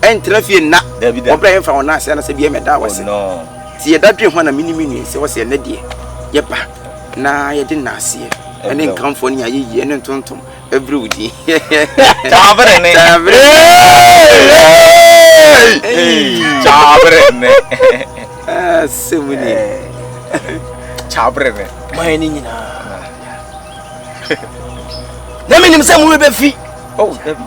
Ɛntra fie nna. Wɔbrɛ a yɛmfa wɔn nan ase anaasɛ bia yɛmɛda wɔ ase. Sɛ yɛda dwen ho a na mene me nua sɛ wɔ sɛ ɛnɛ deɛ yɛba na yɛde nnaaseɛ ɛne nkamfoɔ ne ayɛyie ne ntontom ɛbrɛ wo din. Kyaabere ne. Kyaabere. Kyaabere ne. Sɛ mu ni. Kyaabere ne. Mayɛ ne nyinaa. Na menim sɛ mo rebɛfi. Oh, David.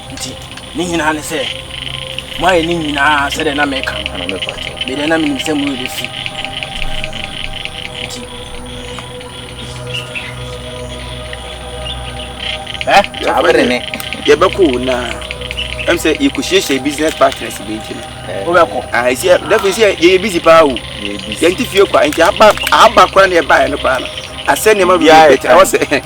Nti ne nyinaa ne sɛ moayɛ ne nyinaa sɛdeɛ na meka no medeɛ na menim sɛ moyɛ bɛfi nti abɛde ne yɛbɛkɔ wo na ɛm sɛ yɛkɔhyiahyia business partners bi nti no wobɛkɔ dɛfo sɛ yɛyɛ busy paa o yɛnte fie kɔ nti aba kora ne yɛbaeɛ no koraa no asɛ nneɛma bi bɛtɛ ɛwɔ sɛ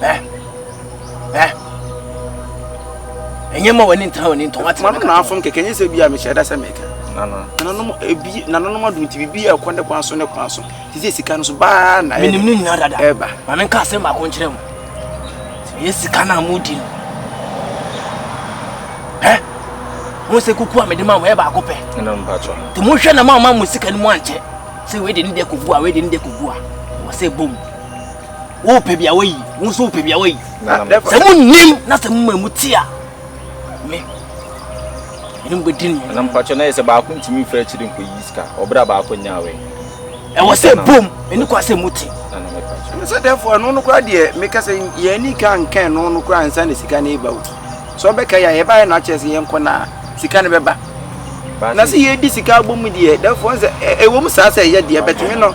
Ɛ Ɛ Ɛnyɛ ma w'ani ntena w'ani ntɔn wate. Maame na afom kɛkɛ nye sɛ bi a mehyɛ da sɛ mɛka. Nananom ebi nananom adum ti bibi a ɛkɔ ne kwan so ne kwan so. Ti sɛ sika no so baa na ɛyɛ. Menim ne nyinaa dada. Ɛba. Maame nka asɛm baako nkyerɛ mu. Sɛ yɛ sika na mo di no. Ɛ mo sɛ kuku a mede ma mo yɛ baako pɛ. Ɛna mo patro. Te mo hwɛ na ma ma mo sika no mu ankyɛ. Sɛ wei de ne de kogu a wei de ne de kogu a. Wɔ sɛ bom. wopɛ bia wayi wo nso wopɛ bia wayi sɛ monim na sɛ moma mu te a me ɛne mobɛdi no na mpakyɛ na yɛ sɛ baako ntumi mfa akyiri nkɔyi sika ɔberɛ a baako nya awɛ ɛwɔ sɛ bom ɛne kwa sɛ mote ɛne sɛ dɛfoɔ ɛno no koraa deɛ meka sɛ yɛani ka nka ɛno no koraa nsa na sika no ɛba o sɛ ɔbɛka yɛ a yɛbaeɛ na akyerɛ sɛ yɛnkɔ no a sika no bɛba na sɛ yɛdi sika abɔ mu deɛ dɛfoɔ sɛ ɛwɔ mu saa sɛ ɛyɛ deɛ bɛtumi no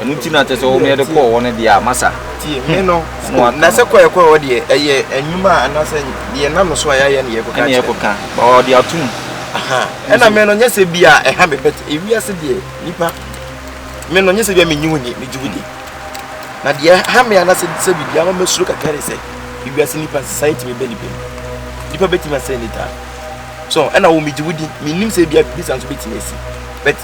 ɛno nti na kyɛ sɛ wɔn yɛde kɔɔ hɔ no deɛ a masa tie me hmm. no na sɛ kɔɛ kɔɛ hɔ deɛ ɛyɛ anwuma a anaasɛ deɛ nam no so a yɛayɛ no yɛkɔka ɛne yɛkɔka ɔde atom ɛna me no nyɛ sɛ bi a ɛha me bɛt ewiase deɛ nipa me no nyɛ sɛ bi a menyi wo ni megye wo di na deɛ ha me anaasɛ sɛ biribi ama mɛsuro kakra ne sɛ ewiase nipa nsesa yɛtumi bɛ nipa mu nipa bɛtumi asɛ ne taa so ɛna wo megye wo di menim sɛ bi a biribi sa nso bɛtumi asi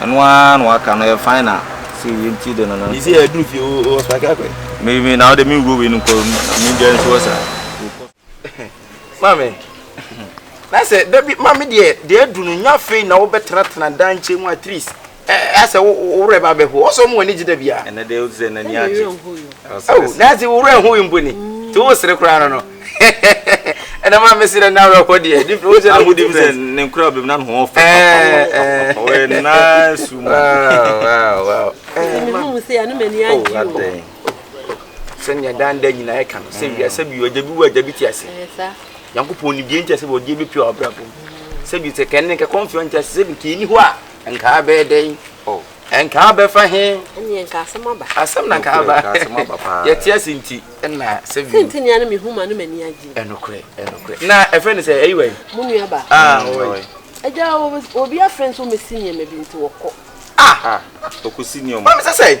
Ɛno ara na waka no yɛ fine na sɛ yɛ nti de no no. Yisi yɛ duru fie o o ɔspa kɛ akɔɛ. Me me na ɔde me wuro wei no nkɔ na me deɛ nso ɔsa. Maame na sɛ dabi maame deɛ deɛ adu no nya fei na wobɛtenatena dan nkyɛn mu atris asɛ worɛ ba bɛho ɔsɛ ɔmo ani gye da bia. Ɛnɛ deɛ ɔsɛ n'ani agye. Na sɛ worɛ ho yi mpo ni te wo sere koraa no no. ɛna maa mesi dɛ n'awerɛhɔ deɛ ne fɛ wosɛ na mo di fɛ ne nkura bɛm na ne ho fɛ papa ɔyɛ naa su mu sɛnea dan da nyinaa ɛka no sɛ wiase bi ɔgya bi wɔ agya bi te ase nyankopɔn ne deɛ nti ase wɔ deɛ bɛpia ɔbrabɔ mu sɛ bi sɛ kɛne kɛkɔmfeɛ nti ase sɛ bi kɛni hɔ a nkaa bɛɛ dɛn Nka abɛfa he? Ɛneɛ nka asɛm aba. Asɛm na nka aba. Yɛte ase nti na sɛ bio. Sɛnti nea no mehu ma no m'ani agye. Ɛnokorɛ, ɛnokorɛ. Na ɛfɛ ne sɛ ɛyi wɛn? Mo nua ba. Ah, ɔwɔ yi. Agya, obi afrɛ nso mesi nneɛma bi nti wɔkɔ. Ah, ɔkɔsi nneɛma. Mami sɛ sɛ.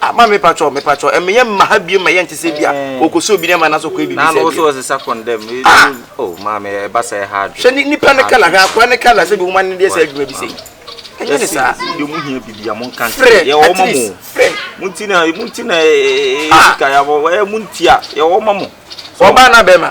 Ah mame mepakyɛw mepakyɛw ɛmɛ yɛ mma ha biem ma yɛn te sɛ bi a ɔkɔsɛ obi ne ma na so kɔ ebi bi sɛ bi. na ɔsɛ ɔsɛ sa kɔn dɛm ee ah! o oh, maame ɛba sɛ ɛha adwe. sɛ nipa ne kala hwɛ akora ne kala sɛ bi wɔn ani deɛ sɛ adwuma bi sɛ yi ɛnyɛ ne saa. ɛsi deɛ mo hia bibi a mo nka nkyɛn yɛ wɔn ma mo mo nti na mo nti na ee sika yɛ wɔn mo nti a yɛ wɔn ma mo. ɔbaa na bɛrima.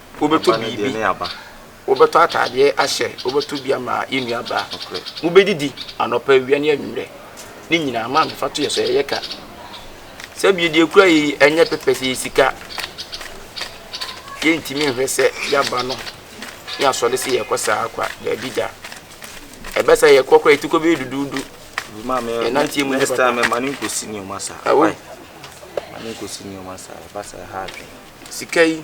Wobɛtɔ biribi, wobɛtɔ ataadeɛ ahyɛ, wobɛtɔ bi ama yɛn nuabaa. Mobɛdidi anɔpa, awia ne anwummerɛ. Ne nyinaa, maame fa to yɛ so, ɛyɛ ka. Sɛbi deɛ kura yi ɛnyɛ pɛpɛ sɛ yɛ sika. Yɛntumi nhwɛ sɛ yɛaba no ne asɔre sɛ yɛkɔ saa kwa, daabi da. Ɛbɛ sɛ yɛkɔ kora yɛti kɔ bɛyɛ duduudu. Yɛnanteɛ mu ne papa. Ɛwɔ, mane nkɔsi nneɛma saa, ɛba sɛ ɛha adwene. Sika yi.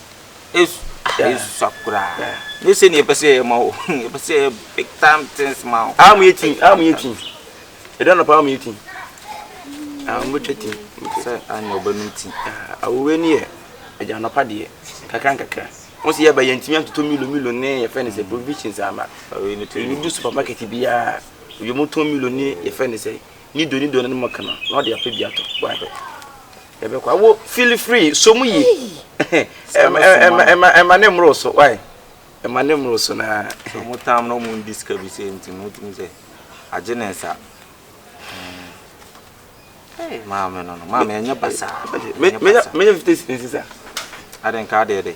Esusa koraa. Ne sɛ nea ɛpɛ sɛ yɛyɛ ma wo. Ɛpɛ sɛ yɛyɛ big time things ma wo. Amu yɛ tin, amu yɛ tin. Ɛdɛ nɔpa amu yɛ tin. Amu bɛtwa tin. Sɛ anyɛ ɔbɛnum tin. Awowɛ ni yɛ ɛgya nɔpa deɛ kakra nkakra. Wɔn sɛ yɛba yɛntumi antoto milo milo ne yɛfɛ ne sɛ provisions ama. Ɛnu du supermarket biara. Ebi mu tɔn milo ne yɛfɛ ne sɛ nido nido ne mo kana na ɔde apɛ bi atɔ. Why? Yɛbɛkɔ a wo feel free so mu yi ɛma ne mmoro so why ɛma ne mmoro so na ɔmo tam na ɔmo ndi sika bi sɛ nti no wotum sɛ agye ne nsa Hey, maame no no maame ɛnyɛ basaa menya 50 cents a adenka adeɛ de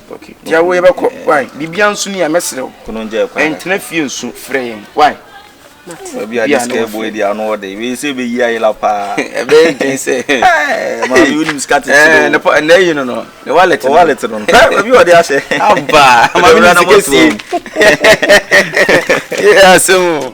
Okay. Ti awo yɛ bɛ kɔ. Why? Bibia nso ni a mɛsrɛ wo. Kunu ngya kwan. Ɛntena fie nso frɛ yɛn. Why? Mate. Obi a this girl boy di ano ɔde. Wei sɛ bɛ yi ayela paa. Ɛbɛ nten sɛ. Ɛɛ maa mi wonim sika tete. Ɛɛ ne pɔ ɛnɛ yi no no. Ne wallet. O wallet no. Ɛɛ obi ɔde ahyɛ. Aba. Maa mi ni sika sie. Yɛ asɛm o.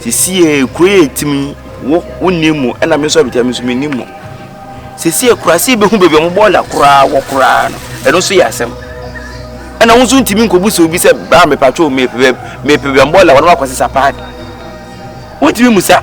Sisi yɛ kuro yɛ etimi wo wo ni mu ɛna mi nso abita mi nso mi ni mu. Sisi yɛ kura si bi ho beebi ɔmo bɔ ɔla koraa wɔ koraa no ɛno nso yɛ asɛm. Ɛna wo nso ntumi nkobu sɛ obi sɛ baa mi patro mi pɛ bɛ mi pɛ bɛ mbɔ ɔla wɔn akɔ sisa paadi. Wontumi musa.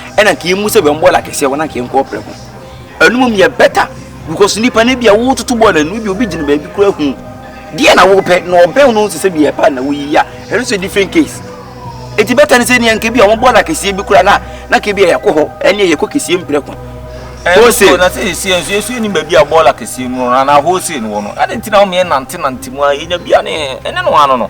ɛna nka yɛmu sɛ bɛn bɔɔl akɛseɛ hɔ na nka yɛnkɔ prɛko ɛno mom yɛ bɛta because nipa no bi a wototo bɔɔl no no bi obi gyina baabi kora hu deɛ na wopɛ na ɔbɛn no nso sɛ bi yɛ pa na woyi ya ɛno nso different case ɛti bɛta no sɛ neɛ nka bi a wɔn bɔɔl akɛseɛ bi kora na na nka bi a yɛkɔ hɔ ɛneɛ yɛkɔ kɛseɛ mprɛko wholesale na sɛ yɛsi nso yɛsu anim baabi a bɔɔl akɛseɛ mu no anaa wholesale no wɔ no ɛde nti na wɔn yɛ nante nante mu a yɛnya bi a ne ɛne no ano no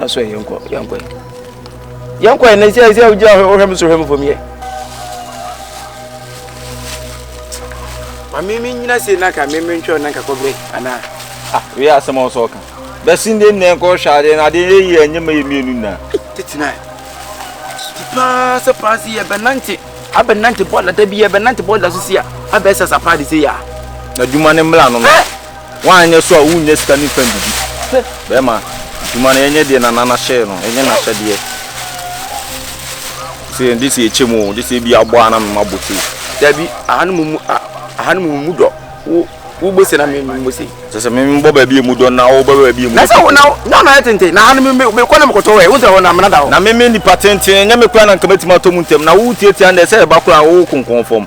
Aso yɛ nkɔ yɛ nkɔ yɛ. Yɛ nkɔ yɛ na ɛsɛ ɛsɛ ɔgye ɔhwɛ mu so hwɛ mu fam yɛ. Mami mi nyina se na ka mi mi ntwɛ na ka kɔ bɛ ana. Ah, wei asɛm a ɔsɔ ɔka. Bɛsi ndɛ nnɛ nkɔ hwɛ adeɛ na adeɛ yɛ yie ɛnyɛ mɛ yɛ mmienu nyinaa. Tete na ti paa sɛ paa si yɛ bɛnante abɛnante bɔɔla da bi yɛ bɛnante bɔɔla so si a abɛsɛ sa paa de se yɛ a. Adwuma ne mmla no no. Woanyɛ so a wonnya sika no mfa ndidi. Hwɛ, bɛrima, dwuma no yɛnyɛ deɛ Nana no hyɛɛ no, yɛnyɛ n'ahyɛdeɛ. Sɛ yɛn gye sɛ yɛkyɛ mu o, gye sɛ ebi abɔ a na mema bɔ sei. Dabi, ahanom mu, a, ahanom mu dɔ. Wo, wobɔ sei na me, memmɔ sei. Kyerɛ sɛ me, mebɔ baabi a emu dɔ na wobɔ baabi a emu dɔ. Na sɛ wo, na, na ɔnayɛ tenten, na ahanom me, mekɔ na mekɔtɔ ɛ, wohu sɛ hɔ no amena da hɔ. Na me, me nnipa tenten, ɛnyɛ me koraa na nka mɛtumi atɔ mu ntɛm, na wo, wotiatia nnɛ, sɛ ɛba koraa a, wo, wokonkɔn fam.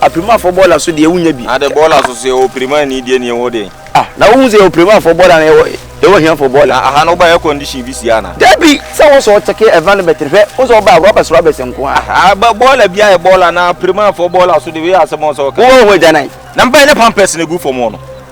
Apirimafoɔ bɔɔla so deɛ wonya bi. Ade bɔɔla so so yɛwɔ Pirimani deɛ nie wo deɛ. Ah na wohu sɛ yɛwɔ Pirimafɔɔ bɔɔla anaa yɛwɔ yɛwɔ ahiafoɔ bɔɔla. Na aha no wobaa air condition bi sie anaa. Dabi sɛ wo sɛ ɔkyɛke environment no hwɛ wo sɛ wobaa rubbish rubbish nko a. Ah ah ba bɔɔla bi ayɛ bɔɔla anaa Pirimafɔɔ bɔɔla so deɛ wei yɛ asɛm a wo sɛ woka. Wowɔ wo ho agyanan. Na mebaa yɛ na pampers na egu fam hɔ no.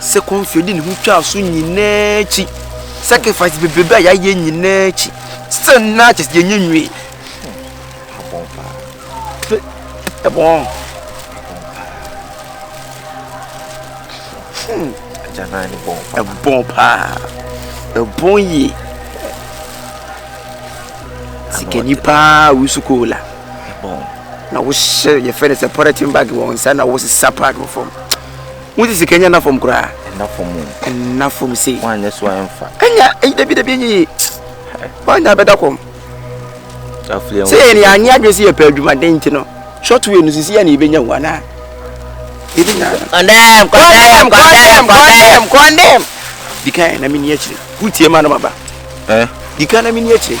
Second fie ɔde ne ho twaa so nyinaa akyi sacrifice bebrebe a yɛayɛ nyinaa akyi sɛ na kyɛ sɛ yɛnyɛ nwie ɛbɔn ɛbɔn paa ɛbɔn yie sikani paa wusu koola bɔn na wo hyɛ yɛ fɛ ne sɛ pɔrɛtin bag wɔ nsa na wo sisa pad wɔ fam wo ti sika nya na fam koraa na fam na fam sei wa nya so anfa anya eyi dabi dabi enyi wa nya bɛda kɔm sɛ yɛ ne anye adwene sɛ yɛpɛ adwumaden nti no short way no sisi yɛ ne yɛbɛnya wo anaa yɛbɛnya kɔndɛm kɔndɛm kɔndɛm kɔndɛm kɔndɛm dikan na menni akyire wotie ma no maba eh? dikan na menni akyire